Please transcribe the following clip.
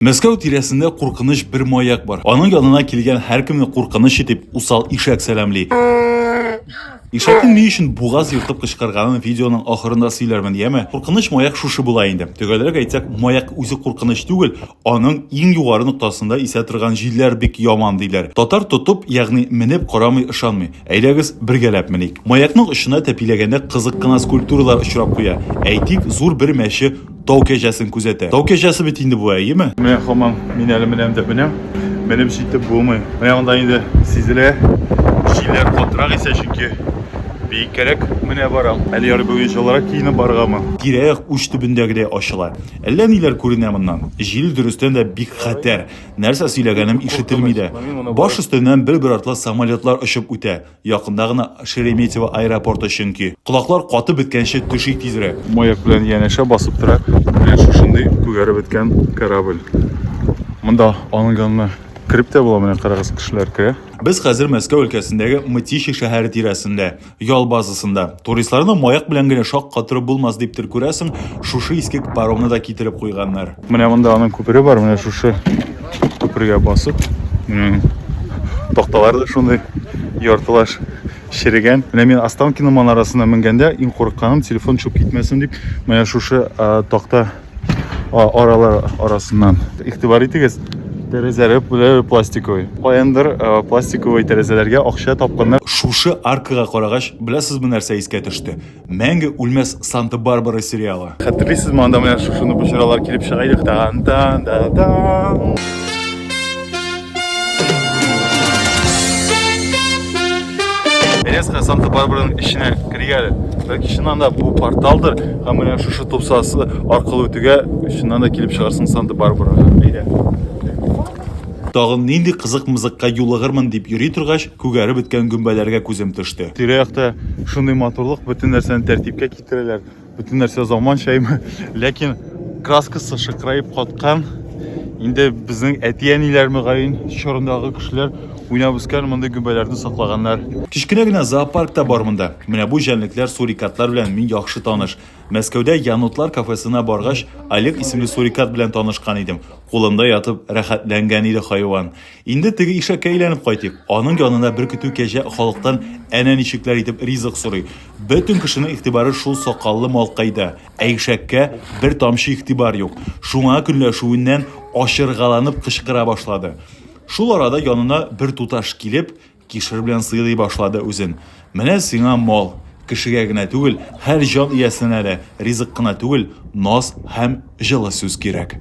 Мәскәү тирәсендә куркыныч бер маяк бар. Аның янына килгән һәркемне куркыныч итеп усал ишәк сәламли. Ишәкнең ни өчен бугаз ертып кычкырганын видеоның ахырында сөйләрмен, яме? Куркыныч маяк шушы була инде. Төгәлрәк әйтсәк, маяк үзе куркыныч түгел, аның иң югары ноктасында исә торган җилләр бик яман, диләр. Татар тотып, ягъни менеп карамый ышанмый. Әйдәгез, бергәләп меник. Маякның очына тәпиләгәндә кызык кына скульптуралар очрап куя. Әйтик, зур бер мәче Тау кәҗәсен күзәтә. Тау кәҗәсе бит инде бу, әйеме? Менә хаман мин әле менәм дә менәм. Менеп җитеп булмый. Менә анда инде сизелә. Җилләр катырак исә, чөнки биеккәрәк менә барам. Әле ярый бүген җылырак киенеп барыргамы? Тирә-як уч төбендәгедәй ачыла. Әллә ниләр күренә моннан. Җил, дөрестән дә, бик хәтәр. Нәрсә сөйләгәнем ишетелми дә. Баш өстеннән бер-бер артлы самолетлар очып үтә. Якында гына Шереметьево аэропорты чөнки. Колаклар катып беткәнче төшик тизрәк. Маяк белән янәшә басып тора. Менә шушындый күгәреп беткән корабль. Монда аның янына кереп тә була, менә карагыз, кешеләр керә. Без хәзер Мәскәү өлкәсендәге Мытищи шәһәре тирәсендә, ял базасында. Туристларны маяк белән генә шаккатырып булмас диптер, күрәсең, шушы иске паромны да китереп куйганнар. Менә монда аның күпере бар, менә шушы күпергә басып. Такталар да шундый яртылаш черегән. Менә мин Останкино манарасына менгәндә иң курыкканым телефон чуп китмәсен дип, менә шушы такта аралар арасыннан. Игътибар итегез, тәрәзәләре белән пластиковый. Каяндыр пластиковый тәрәзәләргә акча тапканнар. Шушы аркага карагач, беләсезме нәрсә искә төште? Мәңге үлмәс Санта-Барбара сериалы. Хәтерлисезме, анда менә шушыны бочыралар килеп чыга идек. Тан тан да тан. Резко Санта-Барбараның эченә кергә әле. Бәлки чыннан да бу порталдыр, һәм менә шушы тупсасы аркылы үтүгә чыннан да килеп чыгарсың Санта-Барбарага. Әйдә. Тагын нинди кызык-мызыкка юлыгырмын дип йөри торгач, Күгәреп беткән гөмбәләргә күзем төште. Тирә-якта шундый матурлык, бөтен нәрсәне тәртипкә китерәләр, бөтен нәрсә заманчаймы. Ләкин краскасы шыкыраеп каткан, инде безнең әти-әниләр мөгаен чорындагы кешеләр уйнап үскән мондый гөмбәләрне саклаганнар. Кечкенә генә зоопарк та бар монда. Менә бу җәнлекләр, сурикатлар белән мин яхшы таныш. Мәскәүдә Янотлар кафесына баргач, Олег исемле сурикат белән танышкан идем. Кулымда ятып, рәхәтләнгән иде хайван. Инде теге ишәккә әйләнеп кайтыйк. Аның янына бер көтү кәҗә халыктан әнә ничекләр итеп ризык сорый. Бөтен кешенең игътибары шул сакаллы малкайда, ә ишәккә бер тамчы игътибар юк. Шуңа көнләшүеннән ачыргаланып кычкыра башлады. Шул арада янына бер туташ килеп, кишер белән сыйлый башлады үзен. Менә сиңа мал, кешегә генә түгел, һәр җан иясенә дә ризык кына түгел, наз һәм җылы сүз кирәк.